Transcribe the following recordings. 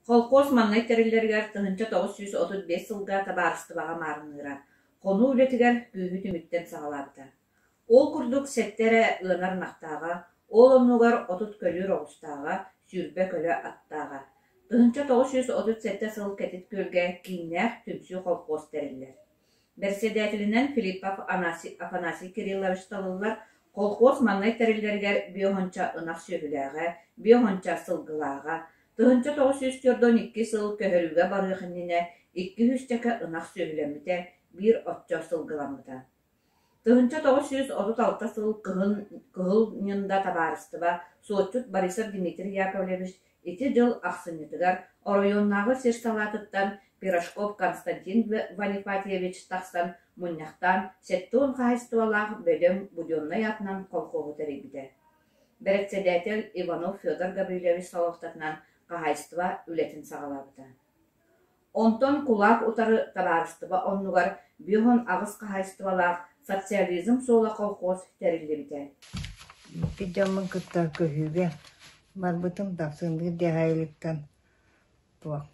Холкуос маҥнай тэриллэригэр тыһыынча тоҕус сүүс отут биэс сылга табаарыстыбаҕа маарынныыра, хонуу үлэтигэр күүһү түмүктэн саҕалаабыта. Ол курдук сэттэ эрэ ыанар ынахтааҕа, ол оннугар отут көлүүр оҕустааҕа, сүүрбэ көлө аттааҕа. Тыһыынча тоҕус сүүс отут сэттэ сыл Кэтит Күөлгэ кииннээх түмсүү холкуос тэриллэр Бэрэссэдээтэлинэн Филиппов Афанасий Кириллович талыллар, колхоз маҥнай тэриллэригэр биоһонча ынах сүөһүлээҕэ, биоһонча сылгылааҕа, тыһыынча тоҕус сүүс түөртүн икки сыл көһөрүүгэ барыах иннинэ икки-үс чэкэ ынах сүөһүлэммитэ, биир оччо сылгыламмыта. Тыһыынча тоҕус сүүс отут алта сыл Кыһыл, Кыһыл Ньында табаарыстыба суотчут Борисов Дмитрий Яковлевич ити дьыл ахсынньытыгар оройуоннааҕы сир-салаатыттан Пирожков Константин Ванипатьевич тахсан мунньахтаан сэттэ уон хаһаайыстыбалаах бөдөҥ буденнай атынан колхоһу тэрийбитэ. Бэрэссэдээтэл Иванов Федор Гаврильевич Соловтатынан хаһаайыстыба үлэтин саҕалаабыта. Онтон кулаак утары табаарыстыба оннугар Бүөһүн аҕыс хаһаайыстыбалаах Социализм суола колхоз тэриллибитэ Икки дьоммун кытта көһүүгэ барбытым тахсынныы диэҕэ иликтэн туох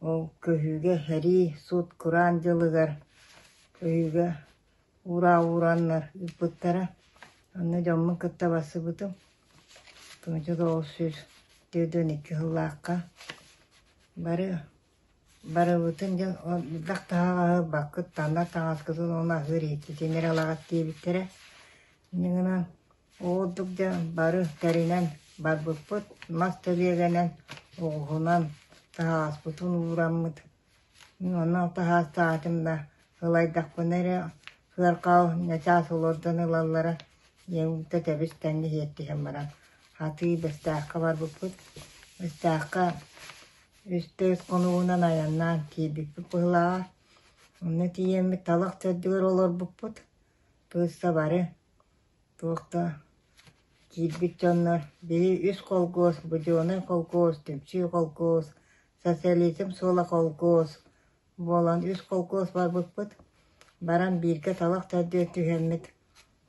ол көһүүгэ сэрии суут кураан дьылыгар көһүүгэ Ураа уурааннар ыыппыттара. Онно дьоммун кытта барсыбытым. Туунча оҕус сүүс түөртүн икки сыллаахха бары барыбытын дьэ ол бырдах таһаҕаһы таннар таҥаскытын уонна аһыыр иһиттитин эрэ ылаҕыт диэбиттэрэ. Ини гынан ол курдук дьэ бары тэринэн барбыппыт, мас тэлиэгэнэн, оҕуһунан таһаҕаспытын уураммыт Онон таһаастаатым да, ылайдахпына эрэ сыарҕаҕа начаас олордон ылаллара диэн уута тэбис-тэҥҥэ сиэттиһэн баран, атыы Бэстээххэ барбыппыт. Бэстээххэ үс-төрүт хонугунан айаннаан тиийбиппит быһылааҕа. Онно тиийэммит талах төрдүгэр олорбуппут. Тыысса бары туох да киирбит дьоннор били үс холкуос, буденный холкуос, түмсүү холкуос Социализм суола холкуос буолан үс холкуос барбыппыт, баран бииргэ талах төрдүгэр түһэммит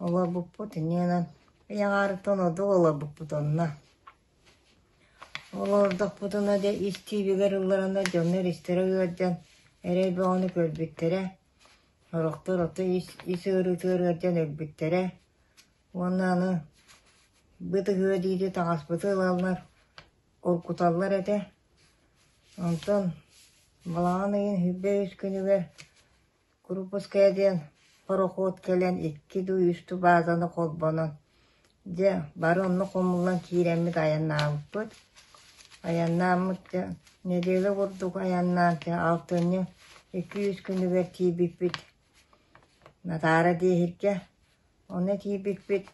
олорбуппут, иннинэн ыйаҕарыттан ордук олорбуппут онно. Олордохпутуна дьэ ис тиибигэр ылларана дьоннор истэрэ ыалдьан эрэл бөҕөнү көрбүттэрэ, сорохтор ото ис, ис ыарыытыгар ыалдьан өлбүттэрэ уонна аны бытыһыа диэки таҥаспыты ылаллар, уруккуталлар этэ онтон балаҕан ыйын үһүйбэ-үс күнүгэр курупуская диэн пароход кэлэн икки дуу үстүү баазаны холбонон дьэ бары онно хомуллан киирэммит айаннаабыппыт айаннааммыт дьэ нэдиэлэ курдук айаннаан дьэ алтынньы икки үс күнүгэр тиийбиппит натаара диэһиргэ онно тиийбиппит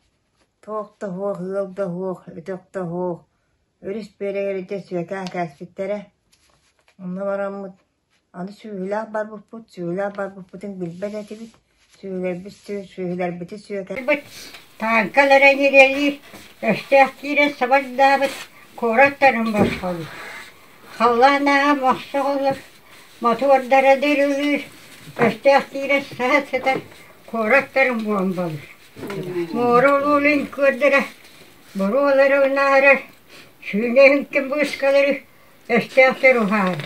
Туох да суох, ыал да суох, өтөх да суох, өрүс бүөрэйэритэ сүөкээн кээспиттэрэ. Онно бараммыт, аны сүөһүлээх барбыппыт, сүөһүлээх барбыппытын билбэт этибит, сүөһүлэрбит сүөһүлэрбити сүөкээн тааҥкаларын ирэлиир, өстөөх киирэн сабардаабыт, куорат тарын босхолуур. Халлаан ааҕа мохсох олор, мотуордара дырылыыр, өстөөх киирэн саһа сытар, куорат тарын буомбалыыр Муора улуунун күөрдэрэ боруолары унаарар, сүүнэһин ким быыскалары өстөөхтөр уһаар,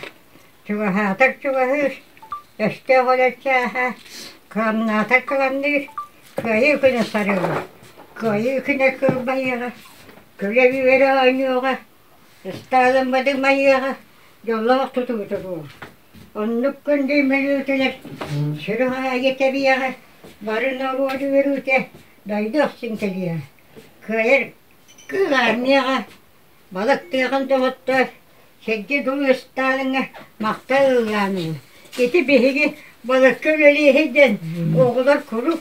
чугаһаатар чугаһыыр, өстөөх олор чааһа, кыамнаатар кыламныыр, кыайыы күнэ сарыала, кыайыы күнэ кылбайыаҕа, көлө-үөрэ оонньуоҕа Ыстаалыммытыҥ Майыаҕа дьоллоох тутубута буол. Оннук күндү мүнүүтүнэн сүрүн аайы тэбиэҕэ, бары норуот үөрүүтэ дойду ахсын кэлиэҕэ, кыайар кыыл аармыйаҕа балыктыаҕын доҕоттоор, сэргэ дуу ыстаалыҥҥа махтал ыллааныҥа. Ити биһиги балыкка үлэлиэһий диэн оҕолор куруук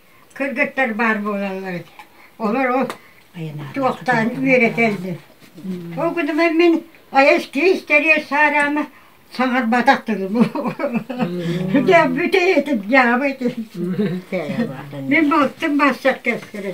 кыргыттар баар буолаллар олор ол туохтаан үөрэтэллэр ол гынан мин айас киис кэриэс саараама саҥарбатах тылым дьэ бүтэйэтин дьаабы мин балтым массар кэскэрэ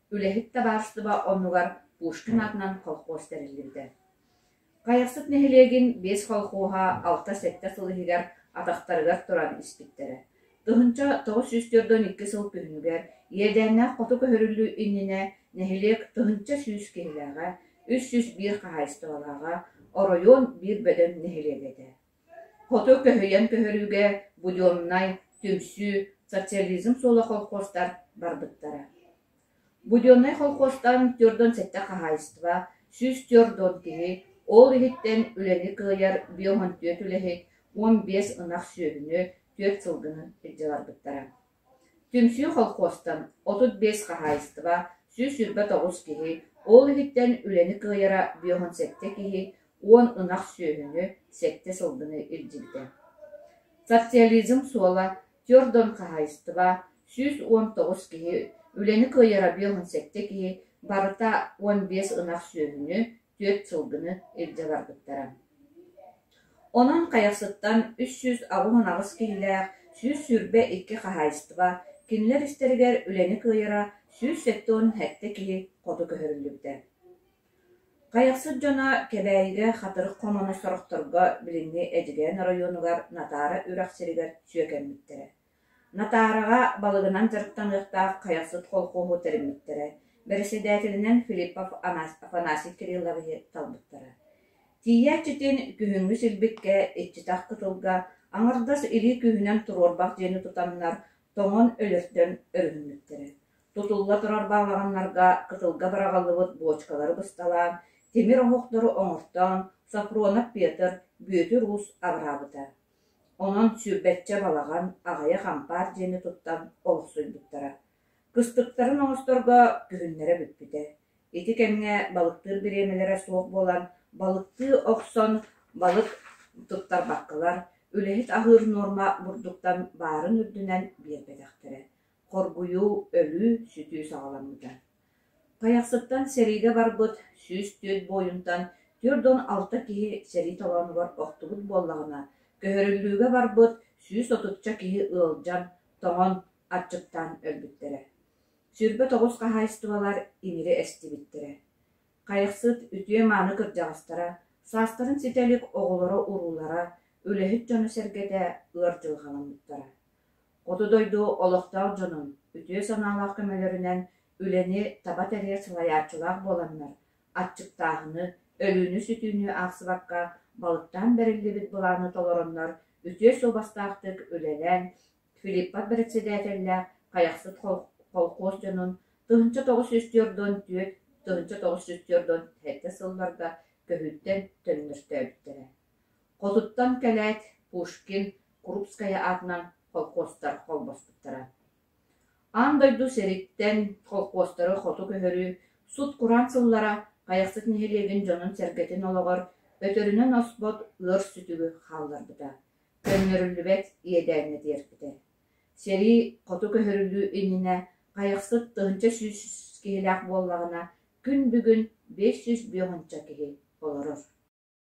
Үлэһит табаарыстыба оннугар Пушкин аатынан колхоз тэриллибитэ. Хайахсыт нэһилиэгин биэс колхоһа алта-сэттэ сыл иһигэр атахтарыгар туран испиттэрэ. Тыһынча тоҕус сүүс төрдөн икки сыл күһүнүгэр иэдээннээх хоту көһөрүллүү иннинэ нэһилиэк тыһынча сүүс киһилээҕэ, үс сүүс биир хаһаайыстыбалааҕа, оройуон биир бөдөҥ нэһилиэк этэ. Хоту көһүйэн көһөрүүгэ буденнай, түмсүү, социализм суола колхозтар барбыттара. Буденнай колхозтан төрт уон сэттэ хаһаайыстыба, сүүс төрт уон киһи, ол иһиттэн үлэни кыайар биом on түөрт үлэһит, уон биэс ынах сүөһүнү, түөрт сылгыны илдьэ барбыттара Түмсүү колхозтан отут биэс хаһаайыстыба, сүүс сүүрбэ тоҕус киһи, ол иһиттэн үлэни кыайара биэһун сэттэ киһи уон ынах сүөһүнү, сэттэ сылгыны илдьибитэ. Социализм суола, Тёрдон хаһаайыстыба, сүүс уон тоҕус киһи, үлэни кыайара биэһун сэттэ киһи, барыта уон биэс ынах сүөһүнү, түөрт сылгыны илдьэ барбыттара. Онон Хайахсыттан үс сүүс алын аҕыс киһилээх сүүс сүүрбэ икки хаһаайыстыба кинилэр истэригэр үлэни кыайара сүүс сэттэ уон сэттэ киһи хоту көһөрүллүбүтэ. Хайахсыт дьоно Кэбээйигэ Хатырык хонууну сорохторго билиҥҥи Эдьигээн оройуонугар Натаара үрэх сиригэр сүөкэммиттэрэ Натаараҕа балыгынан дьарыктаныахтаах хайахсыт холкуоһу тэриммиттэрэ, бэрэссэдээтэлинэн Филиппов Афанасий Кирилловиһы талбыттара. Тиийээччитин күһүҥҥү силбиккэ, иччитэх кытылга, аҥардас илии күүһүнэн туруорбах диэни тутаннар, тоҥон өлөртөн өрүһүммүттэрэ. Тутулла турар баалаҕаннарга кытылга быраҕыллыбыт буочкалары бысталаан, тимир оһохтору оҥортоон, Софронов Петр, Бүөтүр Уус аҕыраабыта. Онон сүүрбэччэ балаҕан аҕыйах ампаар диэни туттан олохсуйбуттара, кыстыктарын оҥосторго күһүннэрэ бүппүтэ, ити кэмҥэ балыктыыр бириэмэлэрэ суох буолан, балыктыы охсон балык туттарбаккалар, үлэһит аһыыр нуорма бурдуктан баарын үрдүнэн биэрбэтэхтэрэ, хоргуйуу, өлүү, сүтүү саҕаламмыта Тайахсыттан сэриигэ барбыт сүүс түөрт буойунтан түөрт уон алта киһи сэрии толоонугар охтубут буоллаҕына, көһөрүллүүгэ барбыт сүүс отучча киһи ыалдьан, тоҥон, аччыктаан өлбүттэрэ. Сүүрбэ тоҕус хаһаайыстыбалар имири эстибиттэрэ. Хайахсыт үтүө-мааны кырдьаҕастара, саастарын ситэ илик оҕолоро-уруулара, үлэһит дьоно-сэргэтэ ыар дьылҕаламмыттара. Хоту дойду олохтоох дьонун үтүө санаалаах көмөлөрүнэн үлэни таба тэрийэр салайааччылаах буоланнар, аччыктааһыны, өлүүнү-сүтүүнү аахсыбакка балыктаан бэриллибит былааны толороннор үтүө суобастаахтык үлэлээн, Филиппов бэрэссэдээтэллээх Хайахсыт холкуос дьонун тыһыынча тоҕус сүүс түөрт уон түөрт тыһыынча тоҕус сүүс түөрт уон сэттэ сылларга көһүүттэн төннөртөөбүттэрэ Хотуттан кэлээт Пушкин, Крупская аатынан холкуостар холбоспуттара. Аан дойду сэриттэн холкуостары хоту көһөрүү сут-кураан сыллара Хайахсыт нэһилиэгин дьонун-сэргэтин олоҕор өтөрүнэн оспот ыар сүтүгү хаалларбыта, көннөрүллүбэт иэдээҥҥэ тиэрпитэ. Сэрии хоту көһөрүлүү иннинэ Хайахсыт тыһыынча сүүс киһилээх буоллаҕына, күн бүгүн бэс сүүс биэҕинчэ киһи олорор.